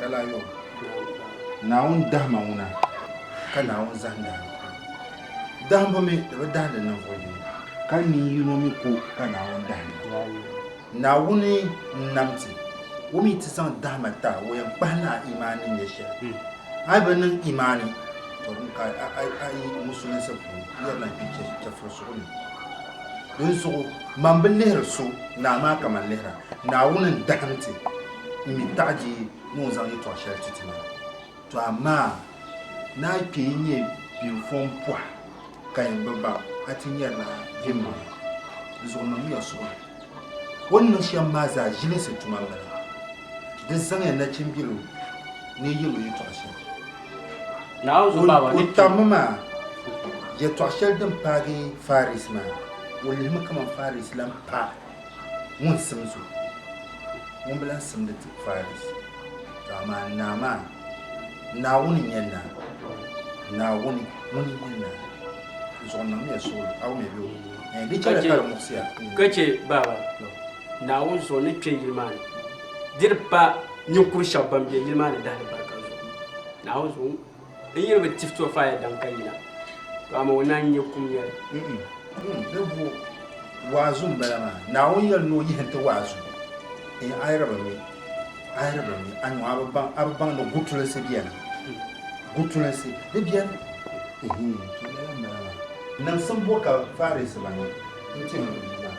Kalayon, Naawuni dahima ŋuna ka Naawuni zahindi alikuru. Dahimbu mi di bi dahindi ninvuɣu yini, ka nin yino mi ko ka Naawuni dahindi. Naawuni n-nam ti, o mi ti zaŋ dahima ta o yɛn kpahi ni a imaani ni nyɛ shɛli. A yi bi niŋ imaani, to din ka a yi musulinsi puuni, di yɛn lan kpi chɛfurisuɣu ni. Dinzuɣu, man bi lihiri so, naa maa ka man lihir a. Naawuni n-dahim ti, m-mi taɣiji ni o zaŋ yɛtɔɣ shɛli ti ti maa. Tɔ amaa! Naa yi kpe n-nyɛ biŋfɔŋ pɔha ka yin bi baŋ, a ti nyarila bimbɔŋɔ. Di zuɣu niŋmiya suhuri. O ni niŋ shɛm maa zaa ʒilinsi tuma m-bala. Di zaŋya nachimbil o ni yɛl o yɛtɔɣ shɛli. O tammi maa, yɛtɔɣ shɛli din paagi Faris maa, o lihimi kaman Faris lan paai. Ŋun sim so, ŋun bi lan simdi ti Paris. To amaa Naa maa, Naawuni n-nyɛ Naa, Naawuni ŋun yi nyɛ Naa. N suhu niŋmiya suɣulo, a wumya bee o bi wum? Ɛɛn, di chɛliya ka di muɣisi ya. Ka chɛ, Baaba, Naawuni zuɣu ni kpe yili maa ni, di di pa ninkur shɛba ban be yili maa ni dahilibarika zuɣu. Naawuni zuɣu. N yiri bi tif to faya daŋ ka yina, to amaa o naan nyɛ kum yɛli. Di bo waazu m-bala maa. Naawuni yɛli ni o yihi nti waazu, N ayiriba mi, ayiriba mi, anyɔŋ a bi baŋ, a bi baŋ ni gutulinsi beni, gutulinsi di beni. Ehe, to lala m-bala maa. Niŋsim bo ka Faarisiba niŋ n-ti n Bia maa?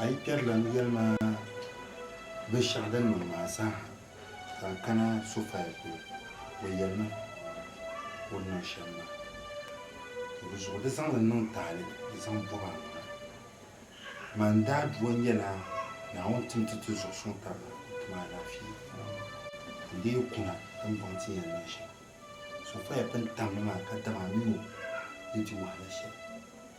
A yi kpɛrilim yɛli ma binshɛɣu din niŋ maa zaaha, ka n kana Sofaya polo. O yɛli ma o ni niŋ shɛm maa. Dinzuɣu di zaŋ li niŋ taali di zaŋ bɔb a maŋa. Man daadua nyɛla Naawuni tim ti ti zuɣu suŋ taba ni ti ma alaafee. N dii kuna ka m bɔŋ ti yɛn niŋ shɛm. Sofaya pun tammi maa ka dama a mini o ni di wahala shɛli.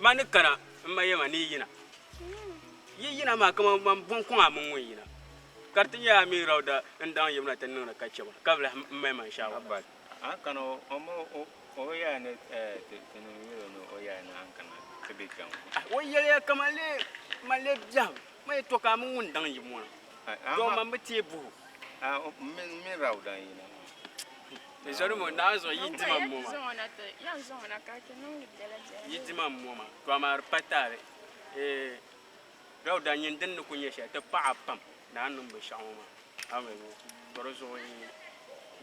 Ma ni kana m ma yɛma ni yi yina. Yi yina maa kaman man buŋkuŋa mini ŋun yina. Kariti nyɛ a mi Rawda n daŋ yimna ti niŋdi ka chɛ ma, ka bi lahi m mali ma n shaawarili. O yɛliya ka man lee man lee biɛhim ma yi to ka a mini ŋun daŋ yim ŋɔ na, doo man bi teei buhi o. Zɔlimo daa zuɣu yi dima m-moma, to amaa di pa taali Dauda nyin din ni ku nyɛ shɛli ti paɣi a pam ni a ni niŋ binshɛɣu ŋɔ maa. Aŋa yuli to di zuɣu yi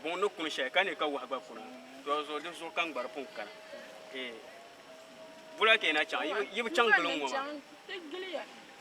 buŋ ni kuni shɛli ka neei ka wahu gba kuna to di zuɣu di zuɣu kam gba di pun kana. Bula ka yi na chaŋ, yi bi chaŋ gili n-ŋɔ maa.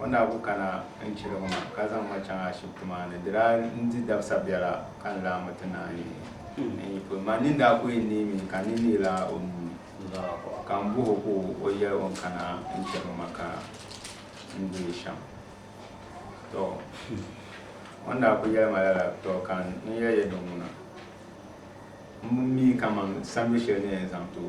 O ni daa ku kana n-chiri ma ka zaŋ ma chaŋ ashibiti maa ni di daa n-di dabisa biɛla ka n lahi mi ti ni a nin yi pun ma nini daa ku yi neei mi ka n ni neei la o nuu ni ka m buhi o ka o yɛli o ni kana n-chiri ma ka n deei shɛm tɔ o ni daa ku yɛli ma lala tɔ ka n yɛli ya dinŋuna m mi kaman sambi shɛli ni yɛn zaŋ ti o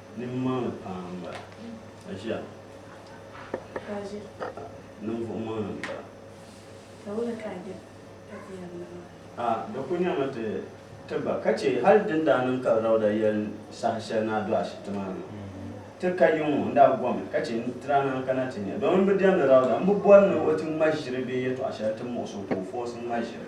Nimmaŋli paa m-bala, ka ʒiɛri ninvuɣ maŋli m-bala. A, di kul nyɛmi ti ti ba, ka chɛ hal di ni daa niŋ ka Rawda yɛli saha shɛli ni a do ashibiti maa ni maa, ti ka yiŋ ŋɔ, n daa gɔmi ka chɛ n ti daa naan kana ti nya. Dɔmin m bi diɛmdi Rawda, m bi bɔri ni o ti ŋma ʒiri bee yɛtɔɣ shɛli ti muɣis o ka o fɔɔsi ŋma ʒiri.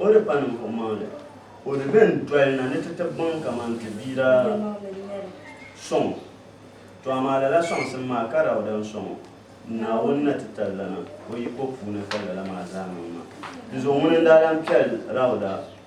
O di pa ninvuɣumaŋli, o di bɛn doli na ni ti ti gbaŋ kaman ti bia daa sɔŋ o. Tɔ amaa lala sɔŋsim maa ka Dauda n-sɔŋ o, Naawuni na ti tali lana o yiko puuni ka lala maa zaa niŋ maa. Dinzuɣu ŋuni n-daa lan kpɛri Dauda?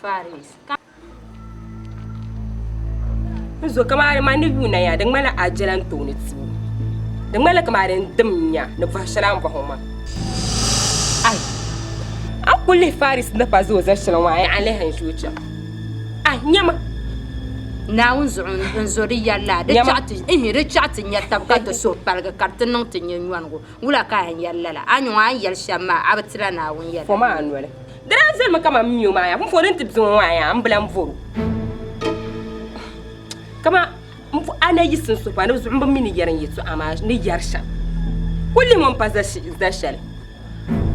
Faris, ka. N zo kamani ma ni yuuna ya, di ŋmanila a jela n tooni tubu. Di ŋmanila kamani n dim nya ni bɔhi shɛli a ni bɔhi o maa. Ai, a ni ku lihi Faris ni pa zooi zali shɛli ŋɔ a yaɣa lihi n zo cham. Ai, nyama. Naawuni zuɣu n zo di yɛlila, di chaɣ ti nyɛ tab ka do suhupaligi ka di ti niŋ ti nyɛ nyɔnigu. Wula ka a ni yɛri lala? A nyuŋ a ni yɛli shɛm maa, a bi ti la Naawuni yɛda. Fom a noli. Di daa zali mi kaman mio maa yaa. Pumpɔŋɔ din ti bizuŋɔ ŋɔ a yaa m bilan vɔro. Kaman m puhi a ni a yi siŋ suhu pam di bi zuɣu m bi mi ni yɛri n yɛtɔɣa maa ni yɛri shɛm. Kul li ŋɔ m pa za shɛli.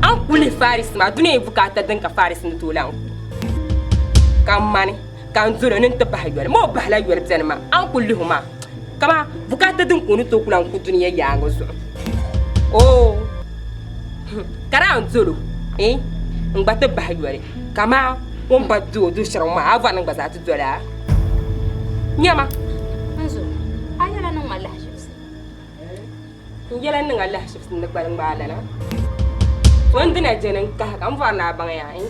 A ni ku lihi Faris maa, duniya yi bukaata din ka Faris ni tooi lahi n ku ka mani. ka n zoro ni n ti bahi yoli ma o bahila yoli bɛni ma a ni ku lihi o maa kama bukaata din ka o ni tooi ku lan ku dunia yaaŋa zuɣu oo ka daa n zolo eh, n gba ti bahi yoli kama o ni ba di o du shɛriŋ maa a vari ni gba zaa ti dola nyɛma n zo a yɛla niŋ ma lahiʒibisi n yɛla niŋ a lahiʒibisi ni gbali ŋmaa lana o ni dina jɛni n kahi ka n vari ni a baŋ yaa eh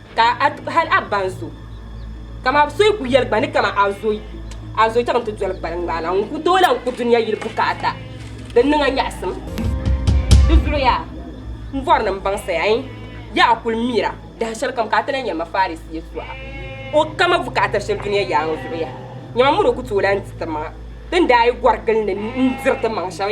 Ka a ti hal a ba n-zo. Ka ma so yi ku yɛli gba ni ka ma a zo yi, a zo chaŋ ti doli gbali ŋmaa la, ŋun ku tooi lahi ku dunia yili bukaata din niŋ a nyaɣisim. Di zuliya, m bɔrinim baŋsi ai, yaa a kul mira dahin shɛlikam ka a ti lahi nya ma Farisiya so ha, o ka ma bukaata shɛli dunia yaaŋa zuɣu yaha. Nyama muni o ku tooi lahi di ti maŋa, din daa yi gɔri gili ni n-diri ti maŋ shɛm.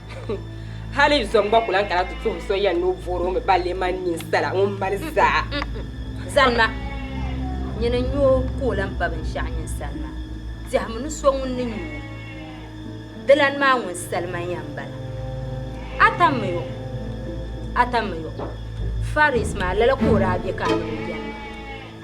Hali zom gba ku lahi kana ti tuhim so yɛn ni o voori o mi balle mani ninsala ŋun mali zaa. Zanima, nyini n-nya o ka o lan ba binshɛɣu nyin sani maa. Tɛhimi ni so ŋun ni nya o dilani maa ŋun salima ya m-bala. A tammi yo! A tammi yo! Faris maa, lala ka o daa be ka a ni o beni maa.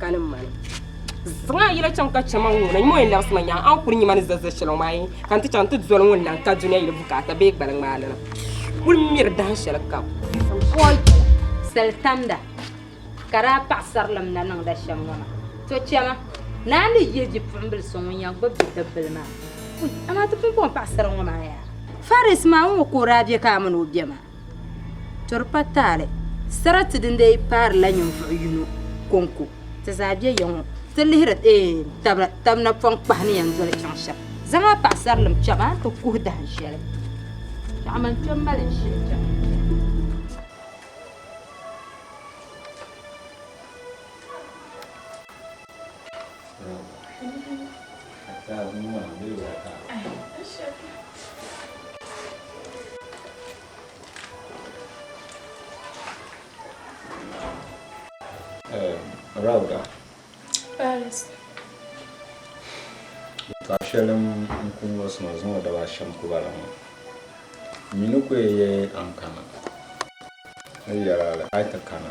ka ni mani zaŋ a yɛla chaŋ ka chɛma ŋɔ na nyuma yɛn labisima nyaŋ an kuli nyima ni zazali shɛli maa yi ka n ti chaŋ ti doli ŋun laŋ ka duniya yili bukaata bee gbali ŋmaali na kuli miri dahin shɛli kam sali tamda ka daa paɣasarilim na niŋda shɛm ŋɔ na to chɛma naa ni yihi bipuɣimbili so ŋun yɛn gbubi bidibbil maa amaa ti pumpɔŋ paɣasara ŋɔ maa yaa faris maa ŋɔ ka o daa bɛ ka a mini o bɛ maa To di pa taali, sarati din dii paarila ninvuɣ yino kɔŋko ti zaa be ya ŋɔ, ti lihiri tab napɔŋ kpahi ni yɛn doli chaŋ shɛm. Zaŋ a paɣisarilim kpɛm a ni ti kuhi dahin shɛli. Tɔɣim a ni kpe m-mali n shili cham. Rauda. Paris. Ka shɛli n ku ŋɔ suma zaŋ o daba shɛm kuba la ŋɔ. Nyi ni ku ye ye ankana. Ni yɛra a ti kana.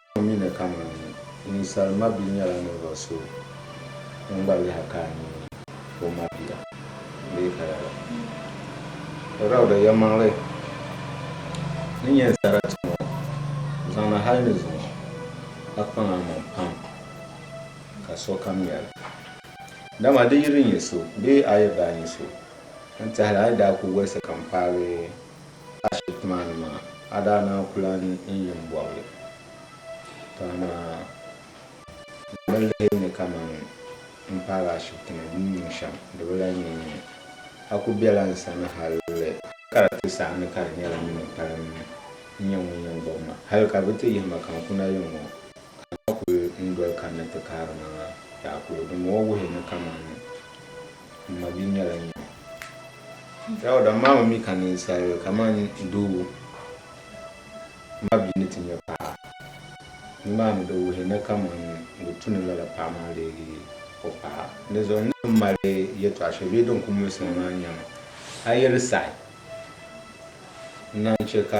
O mi ni kaman ninsal mabia nyɛla ninvuɣ so ŋun gba lahi ka a ni o mabia bee ka lala. Rauda yɛlimaŋli ni nyɛ sarati ŋɔ zaŋna hal ni zuŋɔ a kpaŋ a maŋ pam ka sokam nya li. Dama di yi di nyɛ so bee a yi daa nyɛ so n-tɛhi li a ni daa ku wolisi ka m paagi Ashibiti maa ni maa, a daa naan ku lan yi m-bɔbi li, ka amaa di bi lihi ni kaman m paagi ashibiti ni din niŋ shɛm, di bi lan yi ni. A ku bela n sani hal ka di ti saɣi ni ka di nyɛla min m-palim n-nyɛ ŋun yɛn bɔbi ma. Hal ka bɛ ti yihi ma ka n kuna yiŋ ŋɔ, ka m ma kul n doli kanna ti kaari ma maa, daa kul gim o wuhi ni kaman M ma bia nyɛla n yɛm. Dauda, Maami mi ka ninsali kamani doo ma bia ni ti nyɛ paɣa, nimaani di wuhi ni kamani ŋun tu ni lala paɣa maa leegi o paɣa. Dinzuɣu n ni bi mali yɛtɔɣ shɛli bee din ku mulisi ma maa n-nyɛ ma. A yi di saɣi, n naan chɛ ka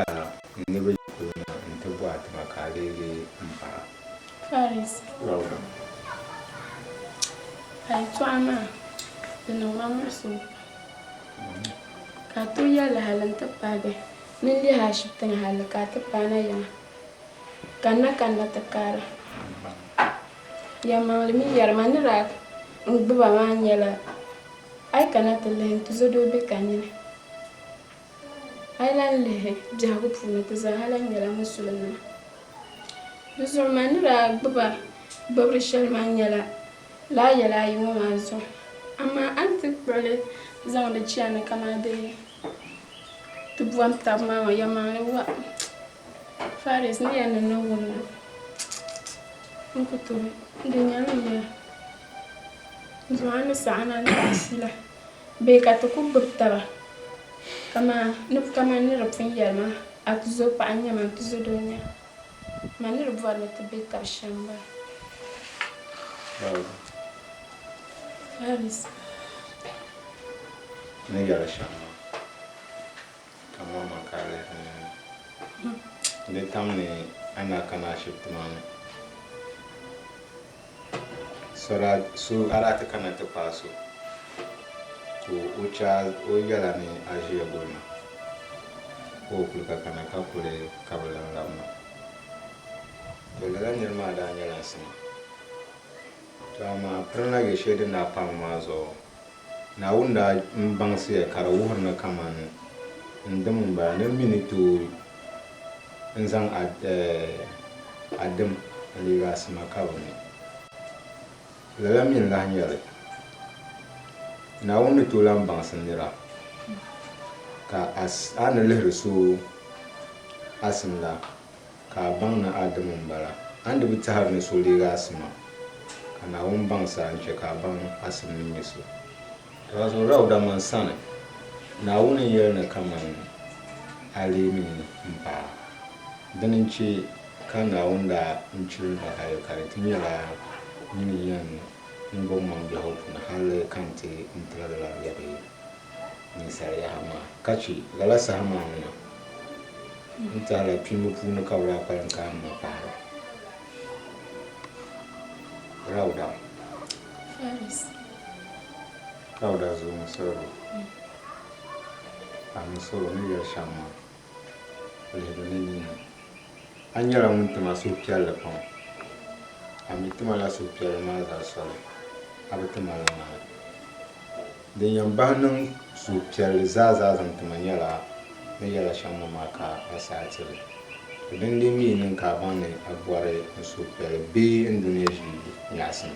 n niriba yi kuli na nti bɔh a tiŋa ka a leegi m paɣa. Farisi nima maa, ka yɛltɔɣa maa di niŋ ma muɣisigu pam ka a tooi yɛli hali n ti paai bihi ni n lihi ashibiti ni hali ka a ti paai na yiŋa ka n na kanna ti kaara yɛlimaŋli mini yɛlima ni daa gbuba maa nyɛla a yi kana ti lihi n tizodoo bɛ ka nini. A yi lahi lihi biɛhigu puuni, bɛ zaa ha lahi nyɛla Musulinnima. Di zuɣu ma ni daa gbib a gbibiri shɛli maa nyɛla lala yɛla ayi ŋɔ maa zuɣu, amaa a ni ti kpuɣi li zaŋ di chani kaman di ni ti bɔhim tab maa ŋɔ, yɛlimaŋli wa Faris ni yɛn niŋ ni wum li, n ku tooi di nyɛla n yɛla zuɣu a ni saɣi ni a ni ti a shila. Bɛ ka ti ku gbib taba, kaman ni di pun yɛli ma, A tuzo paɣa n-nyɛ ma, n-tuzo doo n-nyɛ ma, ni di bɔri ni ti be tab shɛm m-bala. Faris. Ka ma ma ka a lihiri ni n di tam ni a ni a kana ashibiti maa ni so daa so a daa ti kana ti paai so ka o che a o yɛla ni a ʒiya guli ma ka o kuli ka kana ka kuli ka bi lan labi ma to lala niri maa daa nyɛla n sima to amaa pirinla yɛ shɛli din daa paai ma maa zuɣu Naawuni daa n baŋsiya ka di wuhiri ni kaman n dim n bala ni m mi ni tooi n zaŋ a a dim n leegi a sima ka bɛ mi. Lala mi n lahi nyari Naawuni ni tooi lan baŋsi nira ka a ni lihiri so a sim la. Ka a baŋ ni a dim m-bala. A ni di bi tɛhiri ni so leeg a sima, ka Naawuni baŋ sa n-chɛ ka a baŋ a sim ni nyɛ so. Dama so daa wuda man sani, Naawuni n yɛli ni kaman a lee mi ni m-paai a. Dini n-chɛ ka Naawuni daa n chiri n hali ka di ti nyɛla nyin n-yɛn niŋ gbuɣimaŋ biɛhigu puuni hali ka n ti n ti la lala n-yɛri yi. ninsal yaha maa, ka chɛ lala saha maa ni na n tɛhi la kpiimba puuni ka bɛ daa kpalim kaai ma pahira. Rawda. Faris. Rawda zuŋɔ salo, Amin salo ni yɛli shɛm maa. Lihimi ni nina. A nyɛla ŋun ti ma suhupiɛlli pam. A mi ti ma la suhupiɛlli maa zaa soli, a bi ti ma la ŋmani. Din yɛn bahi niŋ suhupiɛlli zaa zaa zaŋ ti ma nyɛla ni yɛla shɛm ma maa ka a saha ti li. Di dindin mi yi niŋ ka a baŋ ni a bɔri n suhupiɛlli bee n dunia ʒii nyaɣisim.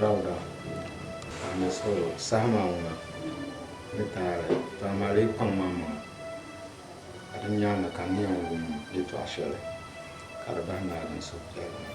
Rauda, Ka mi suhuri saha maa ŋuna ni taali pam maa lee kpaŋmi m maŋa, ka di nyaaŋa ka n yɛn wum yɛtɔɣ shɛli ka di bahi naai din suhupiɛlli maa.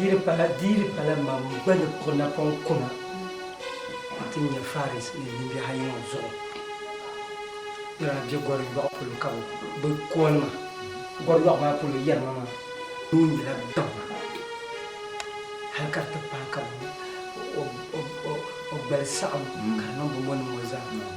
Diri pala diri pala mam gba ni kɔ napɔŋ kuna nti nya Faris ni nimbihi ayi ŋɔ zuɣu ni daa be gɔri yɔɣu polo ka bɛ bi kɔli ma. Gɔri yɔɣu maa polo yɛrima maa nuu nyɛla gaŋa hal ka di ti pahi ka o gbali saɣim ka di niŋ bɛ mɔnim ŋɔ zaa.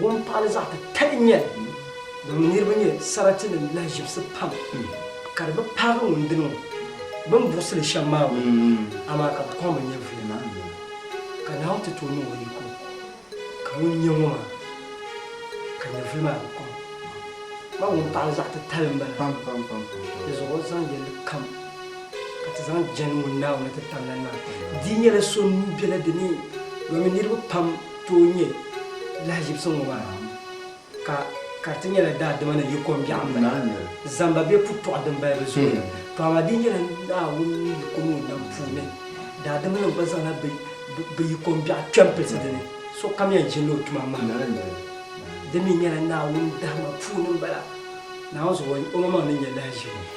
Wuntaali zaɣ titali n nyɛli, din mi niriba nyɛ saratinim lahiʒibisi pam, ka di bi paagi ŋun dini ŋɔ, bɛ ni buɣisi li shɛm maa ŋɔ, amaa ka bɛ kɔŋ bɛ nyɛvuli maa. Ka Naawuni ti tooi niŋ o yiko, ka ŋun nya ŋɔ maa, ka nyɛvuli maa bi kɔŋ ma, wuntaali zaɣ titali m-bala, dizuɣu o zaŋ yɛllikam. Ka ti zaŋ jɛndi ŋun Naawuni ti tam lani maa. Di nyɛla so nuu bela di ni, domin niriba pam tooi nyɛ lahiʒibisi ŋɔ maa, ka kariti nyɛla daadima ni yi kom biɛɣu m-bala, zamba be putɔɣu din balibu zooya. To amaa di nyɛla Naawuni ni yi kom o nam puuni, daadimanim gba zaŋla bɛ yi kom biɛɣu kpe m-pilisi di ni, sokam yɛn ʒinila o tuma mahim. Di mi nyɛla Naawuni dahima puuni m-bala, Naawuni zuɣu omaŋmaŋ ni nyɛ lahiʒibu.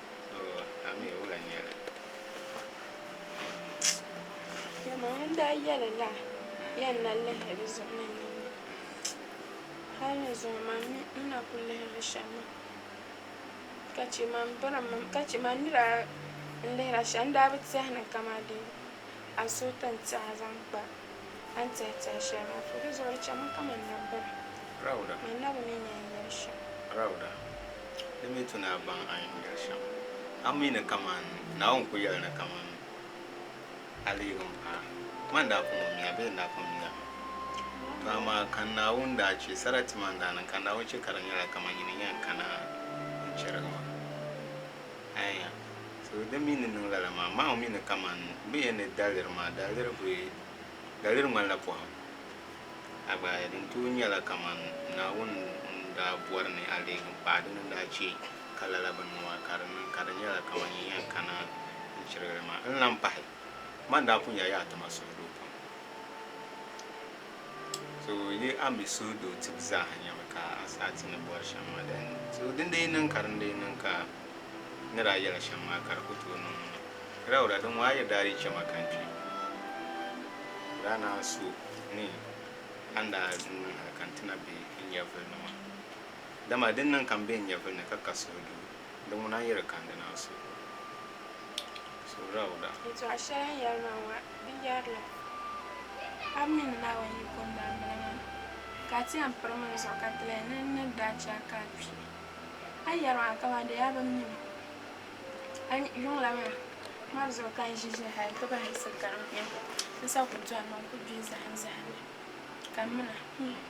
Dama n daa yɛlila yɛn na lihiri di zuɣu ni nini mi hali ni zuŋɔ man mi n na ku lihirila shɛm maa ka chɛ man bɔrɔm mi ka chɛ man ni daa lihira shɛm n daa bi tɛhi ni kamani dee azooti n-tiɛha zaŋ kpa a ni tiɛhi tiɛhi shɛli maa zuɣu. Di zuɣu di chɛmi kaman nabibira, Rauda. Ni nabi mi ni yɛn yɛli shɛm. Rauda, Di mi tu ni a baŋ a ni yɛn yɛli shɛm. A mi ni kaman Naawuni ku yɛli ni kaman a leegi m paai. Ŋa n-daa pun ŋun mi a bee n daa pun mi a? Tɔ amaa ka Naawuni daa chɛ sarati maa n-daa niŋ, ka Naawuni chɛ ka di nyɛla kaman nyin n-yɛn kana n-chɛrigi ma. Aya. So din mi ni niŋ lala maa, maa o mi ni kaman bɛ yɛn ni daliri maa, daliri bi daliri ŋmanila pɔhim. A gba aya din tooi nyɛla kaman Naawuni ŋun daa bɔri ni a leegi m pahi dini n-daa chɛ ka lala bini ŋɔ maa ka di niŋ, ka di nyɛla kaman yi yɛn kana n-chirigi li maa. N lan pahi, man daa pun nyɛla Yaha Tima suhudoo pam. So yi a mi suhudoo tibu zaaha nyɛmi ka a saha ti ni bɔri shɛm maa dali ni. So din dii niŋ ka din dii niŋ ka ni daa yɛla shɛm maa ka di ku tooi niŋ ŋɔ. Rɛwura din ŋɔ a yi daa dii chɛ ma ka n kpi, di daa naan so ni a ni daa niŋ hal ka n ti na be n nyɛvuli ni maa. Dama din niŋ ka m be n nyɛvuli ni ka ka suhudoo. Di ŋuna n-yi di kandinansi. Surauda. Yɛtɔɣ shɛli n yɛri ma ŋɔ, di yɛrila, A mi ni Naawuni yi ku n-daa mini ma, ka a ti yɛn piri mini zuɣu ka ti lahi ni n ni daa chɛ a ka a kpi. A yɛri ma kaman dee a bi mi ma. A yuŋ la ma mɔri zuɣu ka n ʒi ʒiya hal nti bahisi gari m biɛhigu. N sa ku dɔni mi n ku gbihi zahimzahim mi, ka m mi na.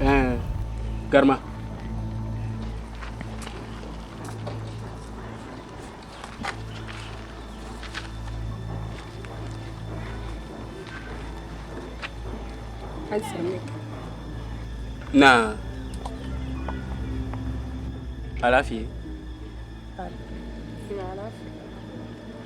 Eh, garima. Naa. Alaafee. Alaafee.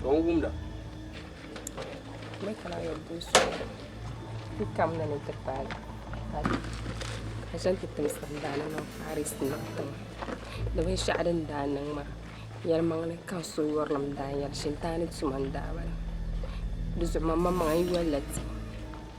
ka o wumda. Mɛ kana yɛli din suɣu ti kam na ni ti paai paati ka zaŋ ti tim sambaani niŋ Paris niŋ tiŋa di binshɛɣu din daa niŋ maa yɛlimaŋli ka n so yurilim daa yɛli shintaani tuma n daa bala di zuɣu maŋmaŋa n yolila ti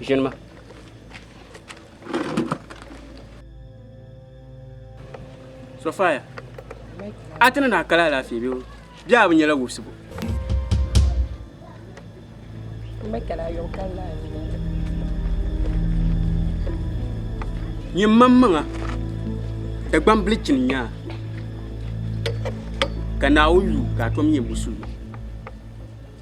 Ʒini ma. Sofaya, a ti ni naa kali alaafee bee bee a bi nyɛla wubisibu? N ba kali a yom kali naa ni ni Nyɛ mam maŋa Dagbam bili chini nyaa ka Naawuni yu ka a tom nyɛ musulmi.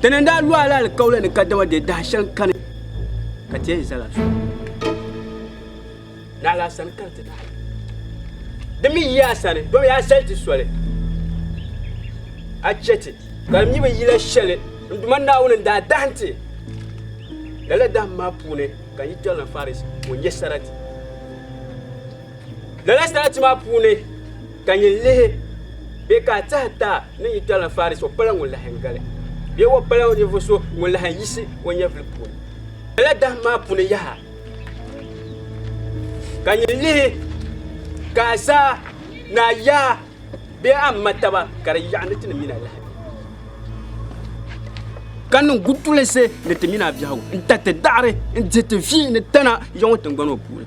Tana n daa lɔhi la alikauli ni kadama dee dahi shɛŋ kani ka tiɛhi zala so naɣila sani ka n ti naɣi di mi yi a sani domi a sali ti soli a chɛti ka di mi bi yila shɛli n duma naawuni n daa dahim ti lala dahim maa puuni ka n yi tɔri na faris ka o nyɛ sarati Lala sarati maa puuni ka nyin lihi bɛ ka a tɛha taa ni nyi Tala Faris o pala ŋun lahi gali bee o pala ninvuɣ so ŋun lahi yiɣisi o nyɛvili puuni. Lala dahim maa puuni yaha ka nyin lihi ka a zaa ni a yaa bee a ma taba ka di yaɣi ni ti ni mini a lahibu ka niŋ gutulinsi ni ti mini a biɛhigu n-tariti daɣiri n-dihi ti vi ni tana yaŋɔ tiŋgbani ŋɔ puuni.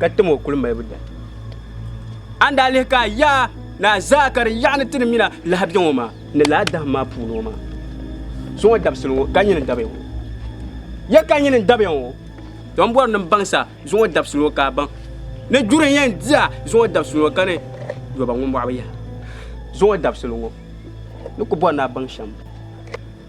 ka tim o kuli malibu dali a ni daa lihi ka yaa ni a zaa ka di yaɣa ni ti ni mina lahabɛ ŋɔ maa ni laa daham maa puuni ŋɔ maa so ŋɔ dabisili ŋɔ ka nyini dabiya ŋɔ ya ka nyini dabiya ŋɔ don bɔri ni baŋsa zuŋɔ dabisili ŋɔ ka a baŋ ni juri yɛn diya zuŋɔ dabisili ŋɔ ka ni yɔba ŋɔ mɔɣu bi yaha zuŋɔ dabisili ŋɔ ni ku bɔri ni a baŋ shɛm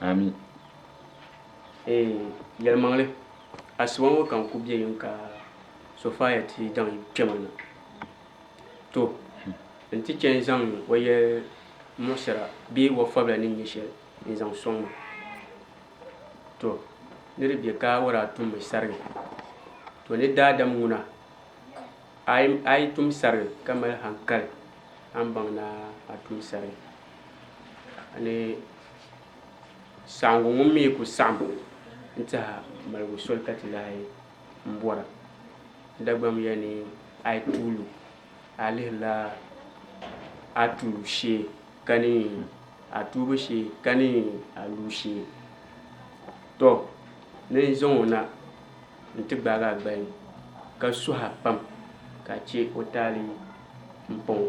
Amin. Eey yɛlimaŋli asiba ŋɔ ka n ku bɛ yim ka Sofaya ti zaŋ yim kpe ma na. To n ti chɛ n-zaŋ o yɛli muɣisira bee o fabila ni nyɛ shɛli n-zaŋ sɔŋ ma. To ni di bɛ ka o daa tum mi sarigi. To ni daadam ŋuna a yi tum sarigi ka mali hankali a ni baŋ ni a tum sarigi. Ni saɣiŋgu ŋun mi ku saɣim n-tiha maligu soli ka ti lahi m-bɔra. Dagbam ya ni a yi tuulu, a lihirila a tuulu shee ka ni a tuubu shee ka ni a luu shee. Tɔ! Ni n zaŋ o na nti gbaag a gbali ka suh a pam ka a chɛ o taali m-paŋ o.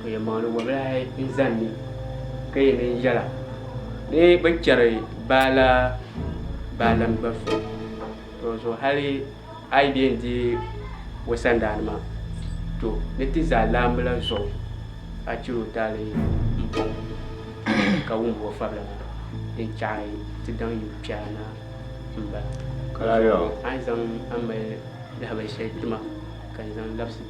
ka yɛn maŋdi wabilahi n zani ni ka yɛn niŋ yɛla ni bi chɛri baala baalim gba so to zuɣu hali a yi yɛn di o sandaa nima to ni ti za laambila zuɣu a chɛri o taali n bɔŋɔ ka wumdi o fabila na din chaɣi ti daŋ yi kpɛra na n bala a yi zaŋ a mali lahabali shɛli tima ka n zaŋ labisi